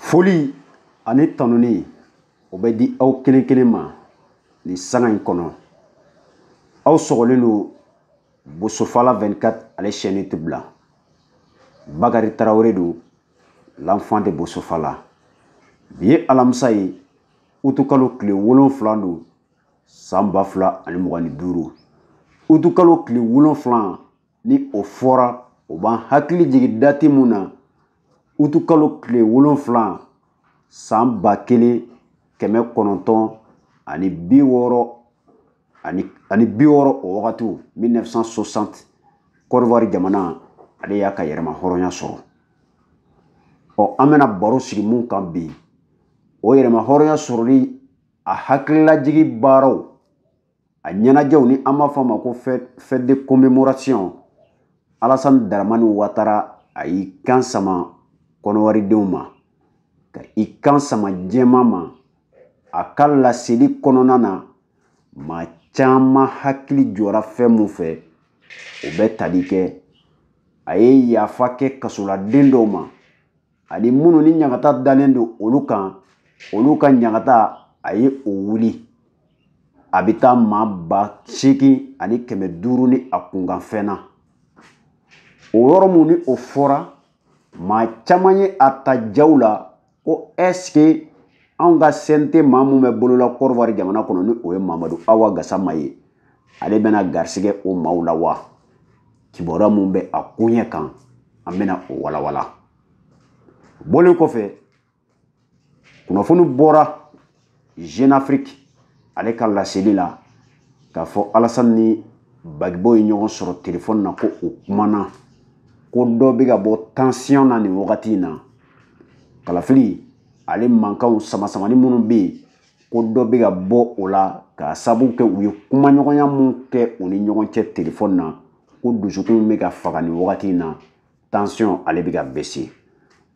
foli ani tanuni o bɛ di aw kelen kelen ma nin sanga in kɔnɔ aw sɔgɔlen don bosofala 24 ale chaîne TV la bakari tarawele don l'enfant de bosofala bi ye alamisa ye utukalo tile wolonfila don san ba fila ani mugan ni duuru utukalo tile wolonfila ni o fɔra o b'an hakili jigin dati mun na utukalo tile wolonfila san ba kelen kɛmɛ kɔnɔntɔn ani bi wɔɔrɔ o wagatiw 1960 kɔdiwari jamana ale y'a ka yɛrɛma hɔrɔnya sɔrɔ ɔ an bɛna baro sigi mun kan bi o yɛrɛma hɔrɔnya sɔrɔli a hakililajigi baaraw a ɲɛnajɛw ni an b'a fɔ a ma ko fête de commémoration alasani daramani watara a y'i kan sama kɔnɔwaridenw ma ka i kan sama jɛma ma a ka laseli kɔnɔna na maa caman hakili jɔra fɛn mun fɛ o bɛ tali kɛ a ye yafa kɛ kasoladen dɔw ma ani minnu ni ɲagata dalen don olu kan olu ka ɲagata a ye o wuli a bɛ taa maa ba seegin ani kɛmɛ duuru ni a kunkanfɛn na o yɔrɔ mun ni o fɔra maa caman ye a ta jaw la ko ɛsike anw ka CNT maa mun bɛ bolo la kɔdiwari jamana kɔnɔ ni o ye mamadu awa gasama ye ale bɛna garisigɛ o maaw la wa kibaruya mun bɛ a koɲɛ kan an bɛna o walawala bɔlen kɔfɛ kunnafoni bɔra jeune afrique ale ka laseli la k'a fɔ alasani ni bagibo ye ɲɔgɔn sɔrɔ telefɔni na ko u kumana ko dɔ bɛ ka bɔ tansiyɔn na nin wagati in na kalafili ale mankanw samasamani minnu bɛ yen ko dɔ bɛ ka bɔ o la k'a sabu kɛ u ye kumaɲɔgɔnya mun kɛ u ni ɲɔgɔn cɛ telefɔni na ko dusukun bɛ ka faga nin wagati in na tansiyɔn ale bɛ ka bese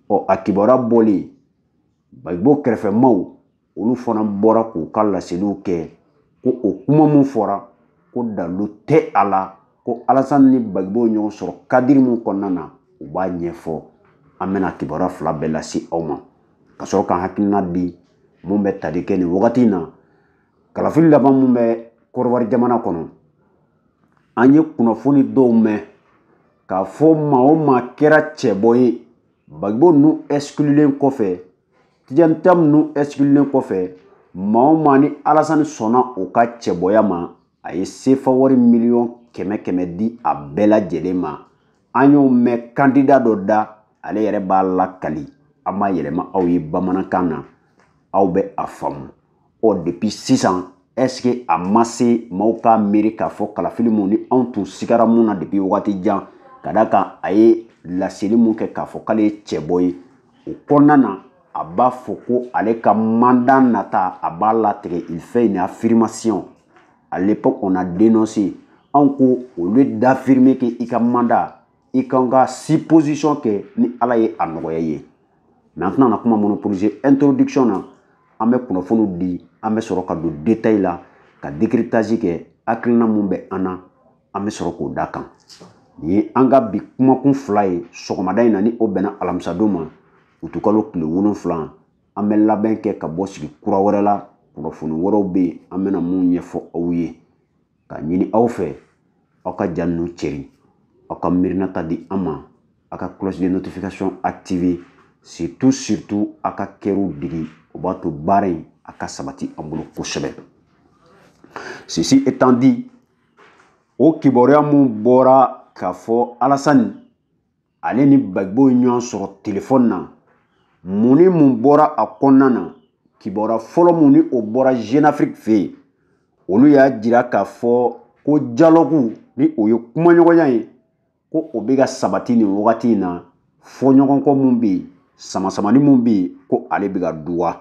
ɔ a kibaruya bɔlen bagibo kɛrɛfɛmaaw olu fana bɔra k'u ka laseliw kɛ ko o kuma mun fɔra ko dalu tɛ a la ko alasani ni bagibo ɲɔgɔn sɔrɔ kadiri min kɔnɔna na u b'a ɲɛfɔ an bɛna kibaruya fila bɛɛ lase aw ma ka sɔrɔ k'an hakilina di mun bɛ tali kɛ nin wagati in na kalafili laban mun bɛ kɔnɔwari jamana kɔnɔ an ye kunnafoni dɔw mɛn k'a fɔ maa o maa kɛra cɛbɔ ye bagibo ninnu ɛsikililen kɔfɛ tijani tiyamu ninnu ɛsikililen kɔfɛ maa o maa ni alasani sɔnna o ka cɛbɔya ma a ye sefa wari miliyɔn kɛmɛ kɛmɛ di a bɛɛ lajɛlen ma an y'o mɛn kandida dɔ da ale yɛrɛ b'a lakali an b'a yɛlɛma aw ye bamanankan na aw bɛ a faamu ɔ depuis sisan est-ce que a ma se maaw k'a miiri k'a fɔ kalafili mun ni anw tun sigara mun na depuis wagati jan ka da a kan a ye laseli mun kɛ k'a fɔ k'ale ye cɛbɔ ye o kɔnɔna na a b'a fɔ ko ale ka mandat nata a b'a latigɛ il fait une affirmation à l'époque on a dénoncé anw ko au lieu d'affirmer que i ka mandat i ka kan ka supposition kɛ ni ala ye a nɔgɔya ye mais an tɛna na kuma monopoliser introduction na an bɛ kunnafoniw di an bɛ sɔrɔ ka don détail la ka décryptage kɛ hakilina mun bɛ an na an bɛ sɔrɔ k'o da a kan nin ye an ka bi kumakun fila ye sɔgɔmada in na ni o bɛnna alamisadon ma utikalo tile wolonfila an bɛ labɛn kɛ ka bɔ sigi kura wɛrɛ la kunnafoni wɛrɛw bɛ yen an bɛna mun ɲɛfɔ aw ye k'a ɲini aw fɛ aw ka ja ninnu cɛri aw ka miirinata di an ma aw ka cloche de notification activer surtout surtout aw ka kɛriw digi o b'a to baara in a ka sabati an bolo kosɛbɛ ceci étant dit o kibaruya mun bɔra k'a fɔ alasani ale ni bagibo ye ɲɔgɔn sɔrɔ telefɔni na mun ni mun bɔra a kɔnɔna na kibaruya fɔlɔ mun ni o bɔra jeune afrique fɛ yen olu y'a jira k'a fɔ ko dialogue ni o ye kumaɲɔgɔnya ye ko o bɛ ka sabati nin wagati in na fɔɲɔgɔnkɔ mun bɛ yen samasamani mun bɛ yen ko ale bɛ ka duga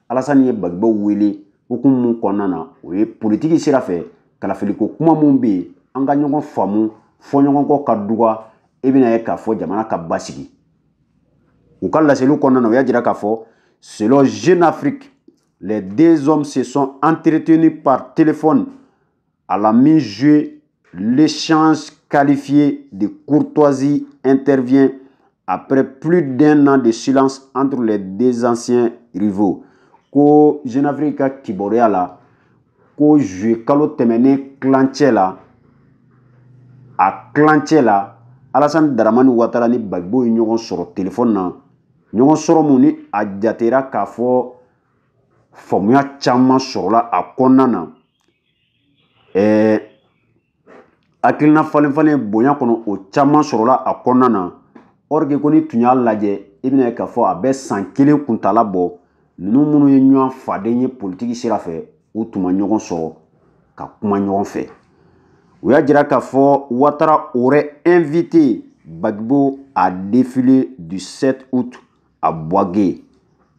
alasani ye bagibo wele hukumu mun kɔnɔna na o ye politiki sira fɛ kalafiliko kuma mun bɛ yen an ka ɲɔgɔn faamu fɔɲɔgɔnkɔ ka duga i bɛna a ye k'a fɔ jamana ka basigi u ka laseliw kɔnɔna na u y'a jira k'a fɔ selon jeune afrique les deux hommes se sont entretenus par téléphone à la mi-juillet, l'échange qualifié de courtoisie intervient après plus d'un an de silence entre les deux anciens rivaux. Ko Jeune Afrique ka kibaruya la, ko juillet kalo tɛmɛnen tilancɛ la, a tilancɛ la, Alassane Dramane Ouattara ni Gbagbo ye ɲɔgɔn sɔrɔ téléphone na, ɲɔgɔn sɔrɔ mun ni a jatera k'a fɔ faamuya caman sɔrɔla a kɔnɔna na. ɛɛ hakilina falenfalen bonya kɔnɔ o caman sɔrɔla a kɔnɔna na or que ko n'i tun y'a lajɛ i bɛna ye k'a fɔ a bɛ san kelen kuntaala bɔ ninnu minnu ye ɲɔgɔn faden ye politiki sira fɛ u tun ma ɲɔgɔn sɔrɔ ka kuma ɲɔgɔn fɛ u y'a jira k'a fɔ Ouattara aurait invité Gbagbo au défilé du 7 août à Bouaké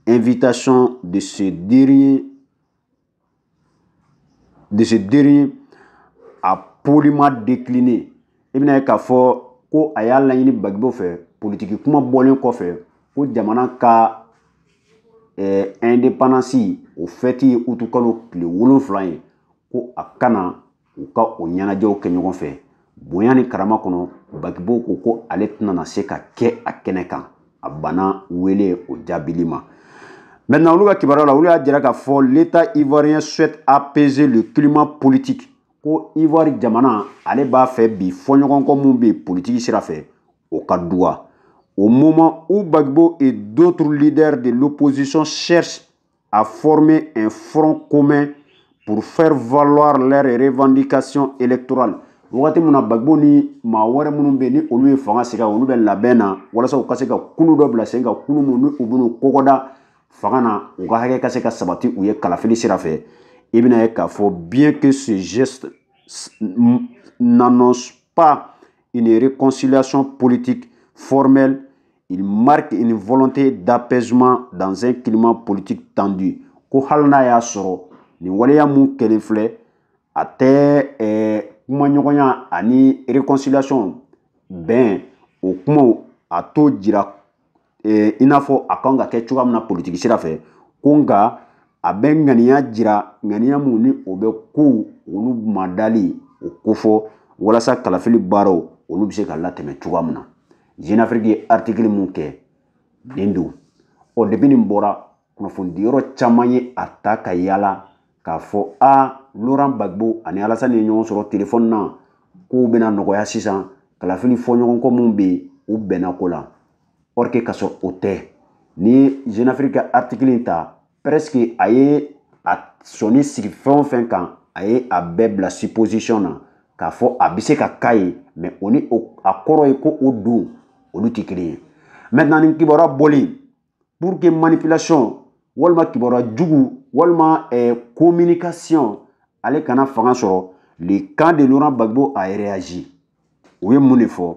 invitation de ce dernier de ce dernier a poliment décliné i bɛna ye k'a fɔ ko a y'a laɲini Gbagbo fɛ politiki kuma bɔlen kɔfɛ ko jamana ka eh, indépendance o fɛti ye utikalo tile wolonfila ye ko a ka na u ka o ɲɛnajɛw kɛ ɲɔgɔn fɛ bonya ni karama kɔnɔ Gbagbo ko ko ale tɛna na se ka kɛ a kɛnɛ kan a bana wele o jaabili ma maintenant olu ka kibaruya la olu y'a jira k'a fɔ l'état ivoirien souhaite apaiser le climat politique ko ivoire jamana ale b'a fɛ bi fɔɲɔgɔnkɔ min bɛ politiki sira fɛ o ka dɔgɔya au moment où Gbagbo et d'autres leaders de l'opposition cherchent à former un front commun pour faire valoir leurs revendications électorales wagati min na Gbagbo ni maa wɛrɛ minnu bɛ yen ni olu ye fanga sigi olu bɛ labɛn na walasa u ka se ka kulu dɔ bila sen kan kulu minnu ni u bɛn'u kɔgɔ da fanga na u ka hakɛ ka se ka sabati u ye kalafili sira fɛ i bɛna ye k'a fɔ bien que ce geste n'annonce pas une réconciliation politique formelle il marque une volonté d'apaisement dans un climat politique tendu ko hali n'a y'a sɔrɔ nin waleya min kɛlen filɛ a tɛ eh, kumaɲɔgɔnya ani réconciliation bɛn o kumaw a t'o jira eh, i n'a fɔ a kan ka kɛ cogoya min na politiki sira fɛ ko nka a bɛ ŋaniya jira ŋaniya min ni o bɛ kow olu madali o kofɔ walasa kalafili baaraw olu bɛ se ka latɛmɛ cogoya min na jeune afrique ye article min kɛ nin don ɔ depuis nin bɔra kunnafonidi yɔrɔ caman ye a ta ka yaala k'a fɔ a Laurent Gbagbo ani Alassane ye ɲɔgɔn sɔrɔ telefɔni na kow bɛna nɔgɔya sisan kalafili fɔɲɔgɔnkɔ minnu bɛ yen u bɛnna ko la or que k'a sɔrɔ o tɛ n'i ye jeune afrique ka article in ta presque a ye a sɔnin sigi fɛn o fɛn kan a ye a bɛɛ bila supposition na k'a fɔ a bɛ se ka k'a ye mais o ni a kɔrɔ ye ko o don olu tɛ kelen ye maintenant nin kibaruya bɔlen pour que manipulation walima kibaruya jugu walima eh, communication ale kana fanga sɔrɔ le camp de Laurent Gbagbo a réagi u ye mun de fɔ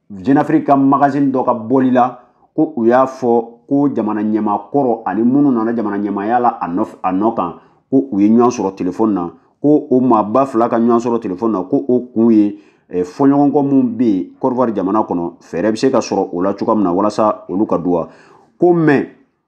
jenafiriki ka magazini dɔ ka bɔli la ko u y'a fɔ ko jamana ɲɛmaa kɔrɔ ani minnu nana jamana ɲɛmaaya la a nɔ kan ko u ye ɲɔgɔn sɔrɔ telefɔni na ko o maaba fila ka ɲɔgɔn sɔrɔ telefɔni na ko o kun ye eh, fɔɲɔgɔnkɔ minnu bɛ yen kɔdiwari jamana kɔnɔ fɛɛrɛ bɛ se ka sɔrɔ o la cogoya min na walasa olu ka duwa ko mais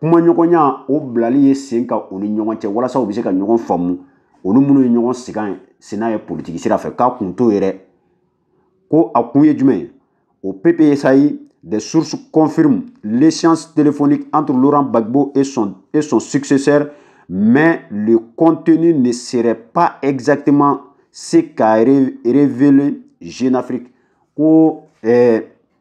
kumaɲɔgɔnya o bilali ye sen kan u ni ɲɔgɔn cɛ walasa u bɛ se ka ɲɔgɔn faamu u ni minnu ye ɲɔgɔn sigan ye sina ye politiki sira fɛ k'a kun t'o ye dɛ ko a kun ye jumɛn ye au PPACI des sources confirment l'échange téléphonique entre Laurent Gbagbo et son, et son successeur mais le contenu ne serait pas exactement ce qu'a révélé Jeune Afrique ko eh,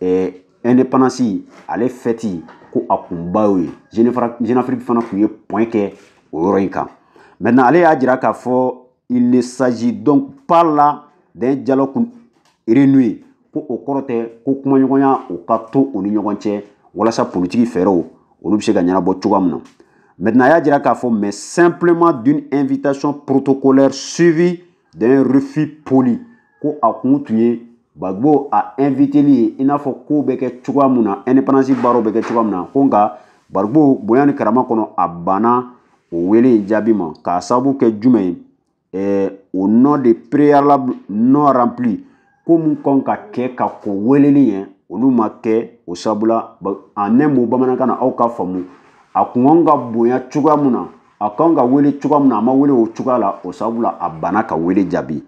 ɛɛ ale fɛti ko a kunba y'o ye jenafiriki fana tun ye point kɛ o yɔrɔ in kan maintenant ale y'a jira k'a fɔ il ne s'agit donc pas là d'un dialogue renoué ko o kɔrɔ tɛ ko kumaɲɔgɔnya o ka to u ni ɲɔgɔn cɛ walasa politiki fɛɛrɛw olu bɛ se ka ɲɛnabɔ cogoya min na maintenant a y'a jira k'a fɔ mais simplement d'une invitation protocolaire suivie d'un refus poli ko a kun tun ye bagibo a inviteli ye i n'a fɔ kow bɛ kɛ cogoya mun na independance baaraw bɛ kɛ cogoya mun na ko nka bagibo bonya ni karama kɔnɔ a banna o wele in jaabi ma k'a sababu kɛ jumɛn ye eh, au nom de préalables non remplis ko mun kan ka kɛ ka kɔn weleli ɲɛ olu ma kɛ o sabu la en un mot bamanankan na aw k'a faamu a kun kan ka bonya cogoya mun na a kan ka wele cogoya mun na a ma wele o cogoya la o sabu la a banna ka wele jaabi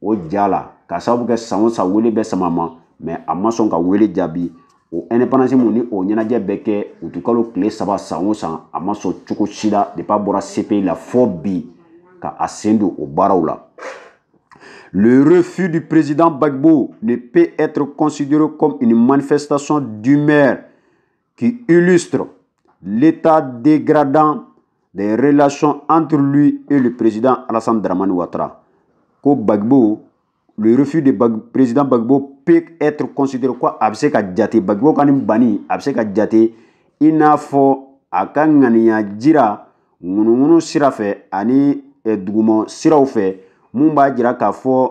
o ja la k'a sababu kɛ san o san wele bɛ sama a ma mais a ma sɔn ka wele jaabi o indépendance mun ni o ɲɛnajɛ bɛ kɛ utikalo tile saba san o san a ma sɔn cogo si la depuis a bɔra CPI la fɔ bi ka a sen don o baaraw la Le refus du président Gbagbo ne peut être considéré comme une manifestation d'humeur qui illustre l'état dégradant des relations entre lui et le président Alassane Dramani Ouattara. Ko Gbagbo, le refus du président Gbagbo peut être considéré ko a bɛ se ka jate Gbagbo ka nin banni a bɛ se ka jate i n'a fɔ a ka ŋaniya jira ŋunuŋunu sira fɛ ani eh, duguma siraw fɛ mun b'a jira k'a fɔ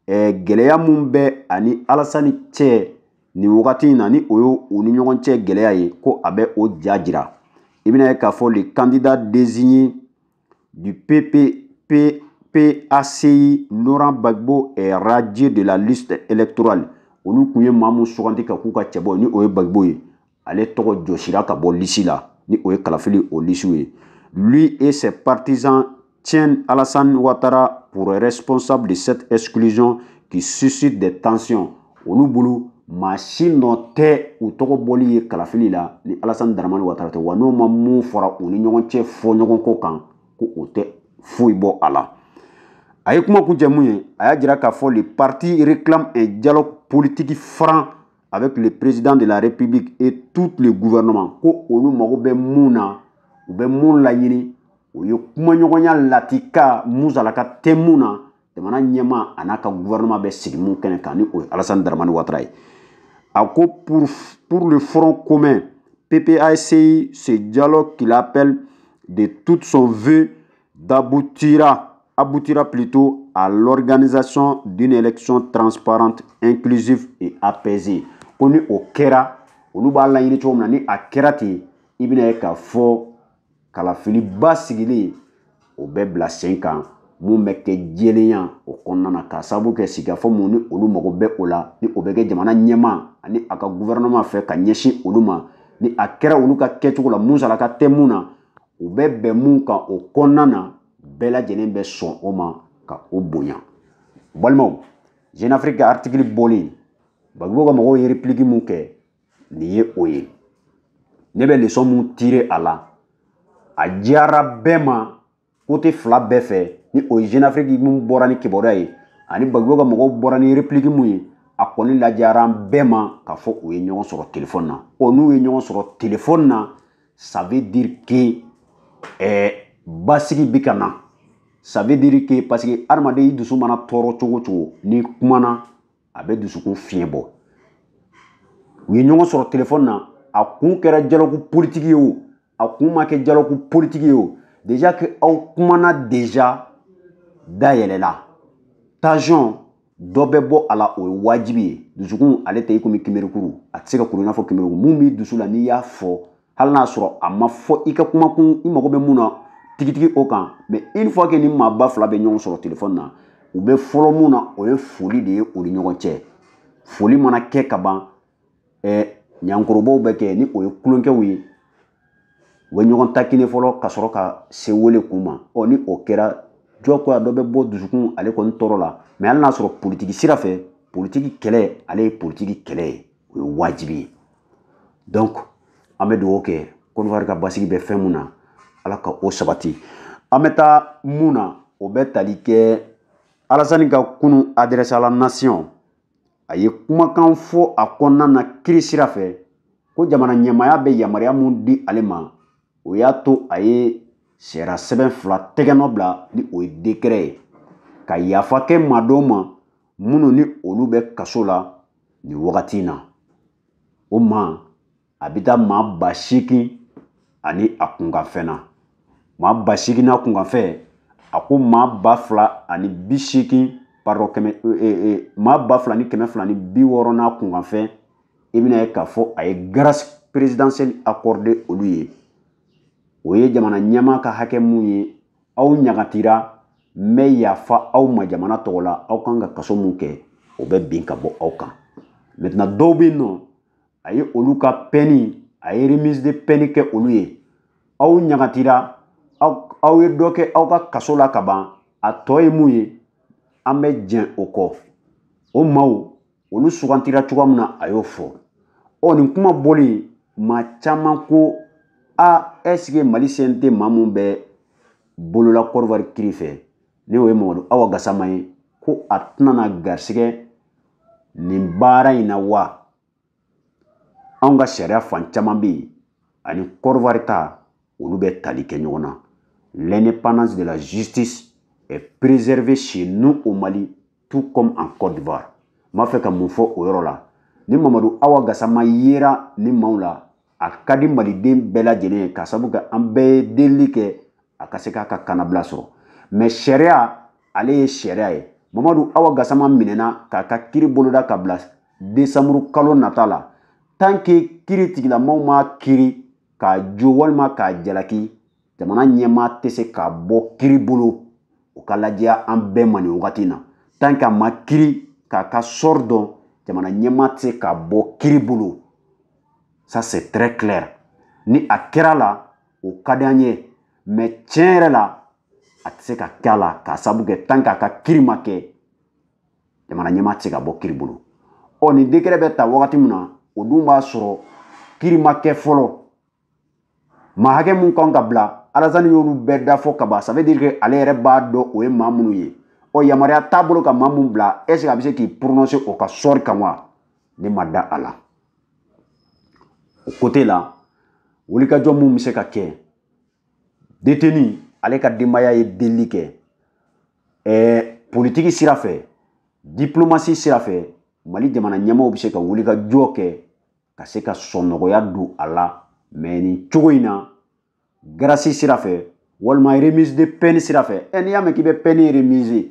eh, gɛlɛya mun bɛ a ni Alassane cɛ nin wagati in na ni o ye u ni ɲɔgɔn cɛ gɛlɛya ye ko a bɛ o ja jira i bɛna ye k'a fɔ le candidat désigné du PP, P, PACI Laurent Gbagbo est radié de la liste électorale olu tun ye maa min sugandi ka k'u ka cɛbɔ ye ni o ye Gbagbo ye ale tɔgɔ jɔsira ka bɔ lisi la ni o ye kalafili o lisiw ye lui et ses partisans tiennent Alassane Ouattara pour responsable de cette exclusion qui suscite des tensions olu bolo maa si nɔ tɛ u tɔgɔ bɔli ye kalafili la ni alasani daramani watara tɛ wa n'o ma mun fɔra u ni ɲɔgɔn cɛ fɔɲɔgɔnkɔ kan ko o tɛ foyi bɔ a la a ye kuma kuncɛ mun ye a y'a jira k'a fɔ le parti réclame un dialogue politique franc avec le président de la république et tout le gouvernement ko olu mago bɛ mun na u bɛ mun laɲini o ye kumaɲɔgɔnya latika musalaka tɛ mun na jamana ɲɛmaa an'a ka gouvernement bɛ sigi mun kɛnɛ kan ni o ye alasani daramani watara ye a ko pour, pour le front commun PPACI, ce dialogue qu'il appelle de toute son vœu d'aboutira aboutira plutôt à l'organisation d'une élection transparente, inclusive et apaisée. Ko ni o kɛra olu b'a laɲini cogo min na ni a kɛra ten i bɛna ye k'a fɔ kalafili basigilen o bɛ bila sen kan mun bɛ kɛ jɛlenya o kɔnɔna na k'a sababu kɛ sigikafɔ mun ni olu mago bɛ o la ni o bɛ kɛ jamana ɲɛmaa ani a ka guvɛrɛnɛman fɛ ka ɲɛsin olu ma ni a kɛra olu ka kɛcogo la musalaka tɛ mun na u bɛ bɛn mun kan o kɔnɔna na bɛɛ lajɛlen bɛ sɔn o ma ka o bonya balimaw jeune afrique ka artikili bɔlen bagibo ka mɔgɔw ye repiliki mun kɛ nin ye o ye ne bɛ lesɔn mun tire a la a jɛyara bɛɛ ma kote fila bɛɛ fɛ ni o ye jeune afrique mun bɔra ni kibaruya ye ani bagibo ka mɔgɔw bɔra ni repiliki mun ye a kɔni lajɛyara an bɛɛ ma k'a fɔ u ye ɲɔgɔn sɔrɔ telefɔni na o n'u ye ɲɔgɔn sɔrɔ telefɔni na ça veut dire que eh, basigi bɛ ka na ça veut dire que parce que adamaden i dusu mana tɔɔrɔ cogo o cogo n'i kumana a bɛ dusukun fiɲɛ bɔ u ye ɲɔgɔn sɔrɔ telefɔni na a kun kɛra dialogue politique ye o a kun ma kɛ dialogue politique ye o déjà que aw kumana déjà da yɛlɛla tension dɔ bɛ bɔ a la o ye wajibi ye dusukun ale tɛ i komi kimerikuru a tɛ se ka kuru i n'a fɔ kimerikuru mun b'i dusu la n'i y'a fɔ hali n'a sɔrɔ a ma fɔ i ka kumakun i mago bɛ mun na tigitigi o kan mais une fois que ni maaba fila bɛ ɲɔgɔn sɔrɔ telefɔni na u bɛ fɔlɔ mun na o ye foli de ye u ni ɲɔgɔn cɛ foli mana kɛ ka ban ɲankorobaw bɛ kɛ ni o ye tulonkɛw ye u bɛ ɲɔgɔn taquiner fɔlɔ ka sɔrɔ ka se welekun ma ɔ ni o kɛra jagoya dɔ bɛ bɔ dusukun ale kɔni tɔɔrɔ la mais hali n'a sɔrɔ politiki sira fɛ politiki kɛlɛ ale ye politiki kɛlɛ ye o ye wajibi ye donc an bɛ dugawu kɛ kɔdiwari ka basigi bɛ fɛn mun na ala ka o sabati an bɛ taa mun na o bɛ tali kɛ alasani ka kunu adresse à la nation a ye kumakan fɔ a kɔnɔna na kiri sira fɛ ko jamana ɲɛmaaya bɛ yamaruya mun di ale ma o y'a to a ye sariya sɛbɛn fila tɛgɛnɔ bila ni o ye dekɛrɛ ye ka yafa kɛ maa dɔw ma minnu ni olu bɛ kaso la nin wagati in na o ma a bɛ taa maa ba seegin ani a kunkanfɛn na maa ba seegin n'a kunkanfɛn a ko maa ba fila ani bi seegin pardon kɛmɛ e, e, e, maa ba fila ni kɛmɛ fila ni bi wɔɔrɔ n'a kunkanfɛn i bɛna ye k'a fɔ a ye grâce présidentielle accorder olu ye o ye jamana ɲɛmaa ka hakɛ mun ye aw ɲagatira n bɛ yafa aw ma jamana tɔgɔ la aw kan ka kaso mun kɛ o bɛ bin ka bɔ aw kan maintenant dɔw bɛ yen nɔ a ye olu ka peine a ye remise de peine kɛ olu ye aw ɲagatira aw ye dɔ kɛ aw ka kaso la ka ban a tɔ ye mun ye an bɛ jɛn o kɔ o maaw olu sugantira cogoya min na a y'o fɔ ɔ nin kuma bɔlen maa caman ko a est ce que mali CNT maa mun bɛ bolo la kɔdiwari kiri fɛ ni o ye mamadu awa gasama ye ko a tɛna na garisɛgɛ nin baara in na wa anw ka sariya fan caman bɛ yen ani Côte d'Ivoire ta olu bɛ tali kɛ ɲɔgɔn na l'indépendance de la justice est préservée chez nous au Mali tout comme en Côte d'Ivoire n b'a fɛ ka mun fɔ o yɔrɔ la ni Mamadu Awa Gasama yera nin maaw la a ka di maliden bɛɛ lajɛlen ye k'a sabu kɛ an bɛɛ ye delili kɛ a ka se k'a ka kanabila sɔrɔ mais sariya ale ye sariya ye mamadu awa gasama minɛna k'a ka kiri boloda k'a bila desanburu kalo nata la tant que kiritigɛlamaw m'a kiri k'a jo walima k'a jalaki jamana ɲɛmaa tɛ se k'a bɔ kiri bolo o ka lajɛya an bɛɛ ma nin wagati na tant que a ma kiri k'a ka sort dɔn jamana ɲɛmaa tɛ se k'a bɔ kiri bolo ça c'est très clair ni a kɛra a la o ka di an ye mais tiɲɛ yɛrɛ la a tɛ se ka kɛ a la k'a sabu kɛ tant qu'a ka kiri ma kɛ jamana ɲɛmaa tɛ se k'a bɔ kiri bolo ɔ nin dekɛrɛ bɛ ta wagati min na o dun b'a sɔrɔ kiri ma kɛ fɔlɔ maa hakɛ mun kan ka bila alasani y'olu bɛɛ da fɔ kaban ça veut dire que ale yɛrɛ b'a dɔn o ye maa minnu ye ɔ yamaruya t'a bolo ka maa mun bila est ce que a bɛ se k'i prononcer o ka sort kan wa ne ma da a la o côté la wulikajɔ mun bɛ se ka kɛ deteni ale ka denbaya ye delili kɛ ɛɛ politiki sira fɛ diplomasi sira fɛ mali jamana ɲɛmaaw bɛ se ka wulikajɔ kɛ ka se ka sɔnnɔgɔya don a la mɛ nin cogo in na grâce sira fɛ walima remise de peine sira fɛ ɛ n'i y'a mɛn k'i bɛ pɛni remise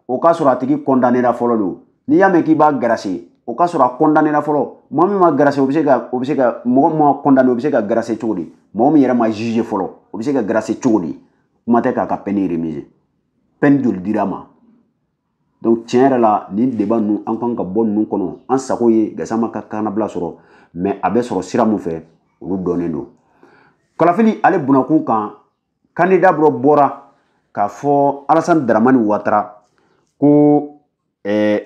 o k'a sɔrɔ a tigi kɔndanera fɔlɔ don n'i y'a mɛn k'i b'a garase o k'a sɔrɔ a kɔndanera fɔlɔ mɔgɔ min ma garase o bɛ se ka o bɛ se ka mɔgɔ min ma kɔndane o bɛ se ka garase cogo di mɔgɔ min yɛrɛ ma juge fɔlɔ o bɛ se ka garase cogo di kuma tɛ k'a ka pɛni remise pɛni joli dira ma donc tiɲɛ yɛrɛ la nin débat ninnu an kan ka bɔ ninnu kɔnɔ an sago ye gasama ka kanabila sɔrɔ mɛ a bɛ sɔrɔ sira min fɛ olu dɔnnen don kalafili ale bunakun kan kandida dɔ bɔra k'a fɔ alasani daramani watara ko ɛɛ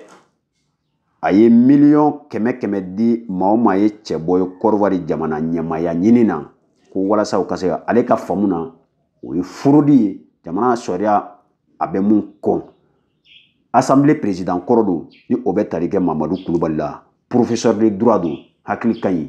a ye miliyɔn kɛmɛ kɛmɛ di maa o maa ye cɛbɔ ye kɔrɔwari jamana ɲɛmaaya ɲini na ko walasa u ka se ka ale ka faamu na o ye fraude ye jamana sariya a bɛ min kɔn asanbile perezidan kɔrɔ don ni o bɛ tali kɛ mamadu kulubali la professeur de droit don hakili ka ɲi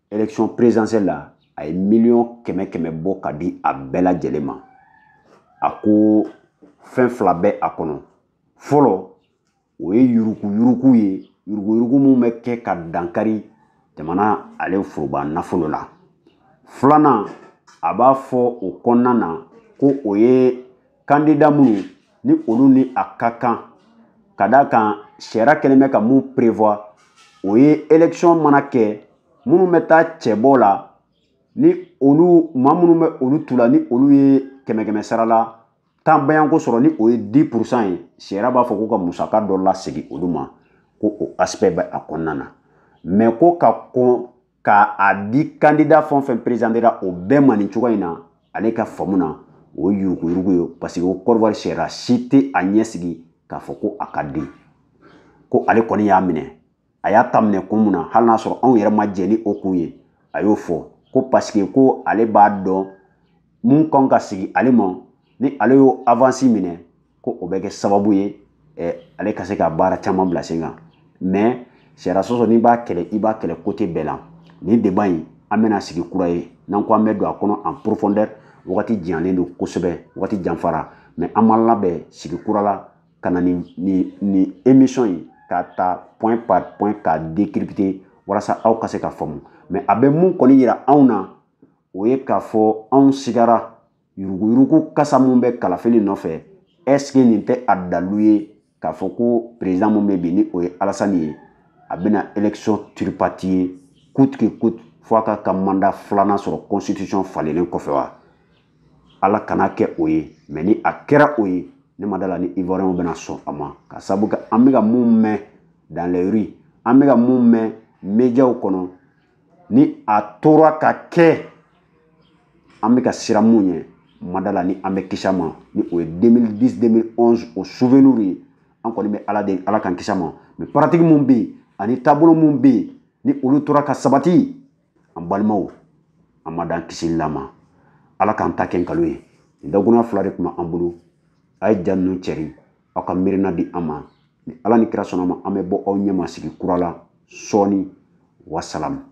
élection présidentielle la a ye miliyɔn kɛmɛ kɛmɛ bɔ ka di a bɛɛ lajɛlen ma a ko fɛn fila bɛ a kɔnɔ fɔlɔ o ye yuruguyurugu ye yuruguyurugu min bɛ kɛ ka dankari jamana ale foroba nafolo la filanan a b'a fɔ o kɔnɔna na ko o ye kandida minnu ni olu ni a ka kan ka d'a kan sariya kɛlen bɛ ka min prévoir o ye élection mana kɛ minnu bɛ taa cɛbɔ la ni olu maa minnu bɛ olu tu la ni olu ye kɛmɛ kɛmɛ sara la tan bayanko sɔrɔ ni o ye dix pour cent ye sariya b'a fɔ ko ka musaka dɔ lasegin olu ma ko o aspect bɛ a kɔnɔna na mɛ ko ka kɔn ka a di kandida fɛn fɛn perezantera o bɛɛ ma nin cogoya in na ale ka faamu na o ye yuruguyurugu ye parce que ko kɔrɔwari sariya si tɛ a ɲɛsigi k'a fɔ ko a ka di ko ale kɔni y'a minɛ a y'a ta minɛ kun mun na hali n'a sɔrɔ anw yɛrɛ ma jɛn ni o kun ye a y'o fɔ ko parce que ko ale b'a dɔn min kan ka segin ale ma ni ale y'o avansi minɛ ko o bɛ kɛ sababu ye ale ka se ka baara caman bila sen kan mɛ sariya sɔsɔ n'i b'a kɛlɛ i b'a kɛlɛ côté bɛɛ la nin débat in an bɛna sigi kura ye n'an ko an bɛ don a kɔnɔ en profondeur wagati janyalen don kosɛbɛ wagati janfara mɛ an b'a labɛn sigi kura la ka na nin nin nin émission in k'a ta point par point k'a décrypter walasa aw ka se ka faamu mɛ a bɛ min kɔni yira anw na o ye k'a fɔ anw sigara yuruguyurugu kasa min bɛ kalafili nɔfɛ est-ce que nin tɛ a dalu ye k'a fɔ ko perezidan min bɛ bi ni o ye alasani ye a bɛna élection tripatouiller coûte que coûte fo a ka ka mandat filanan sɔrɔ constitution falenlen kɔfɛ wa ala kana kɛ o ye mɛ ni a kɛra o ye ne ma d'a la ni ivoirienw bɛna sɔn a ma ka sabu kɛ an bɛ ka min mɛn dans les rues an bɛ ka min mɛn mediaw kɔnɔ ni a tora ka kɛ an bɛ ka siran mun ɲɛ n ma da a la ni an bɛ kisi a ma ni o ye 2010 2011 o souvenir ye an kɔni bɛ ala deli ala k'an kisi a ma mɛ pratique mun bɛ yen ani taabolo mun bɛ yen ni olu tora ka sabati an balimaw an ma da an kisili la ma ala k'an ta kɛ nkalon ye nin dakurunɲɛ fila de tun bɛ an bolo a ye ja ninnu cɛri aw ka miirina di an ma ni ala ni kira sɔnna a ma an bɛ bɔ aw ɲɛma sigi kura la sɔɔni wasalamu